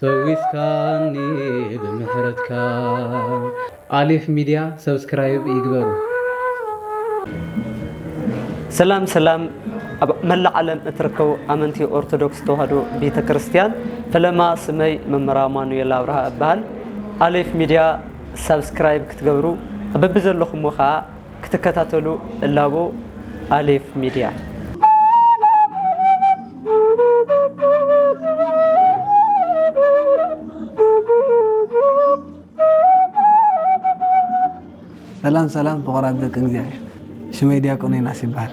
ፈዊስካኒ ብምሕረትካ። ኣሌፍ ሚድያ ሰብስክራይብ ይግበሩ። ሰላም ሰላም ኣብ መላእ ዓለም እትርከቡ ኣመንቲ ኦርቶዶክስ ተዋህዶ ቤተ ክርስትያን ፈለማ ስመይ መምህር ኣማኑኤል ኣብርሃ እበሃል ኣሌፍ ሚድያ ሳብስክራይብ ክትገብሩ ኣብ በቢዘለኹምዎ ከዓ ክትከታተሉ እላቦ ኣሌፍ ሚድያ። ሰላም ሰላም ፍቁራት ደቂ እግዚኣብሔር ሽመይ ድያቆን ዮናስ ይበሃል።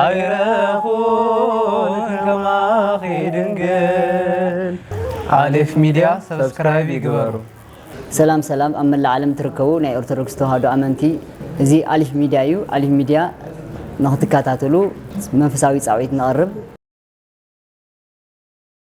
ኣይረኹን ከማኺ ድንግል። ኣሌፍ ሚድያ ሰብስክራይብ ይግበሩ። ሰላም ሰላም ኣብ መላእ ዓለም ትርከቡ ናይ ኦርቶዶክስ ተዋህዶ ኣመንቲ እዚ ኣሊፍ ሚድያ እዩ ኣሊፍ ሚድያ ንክትከታተሉ መንፈሳዊ ፃውዒት ነቕርብ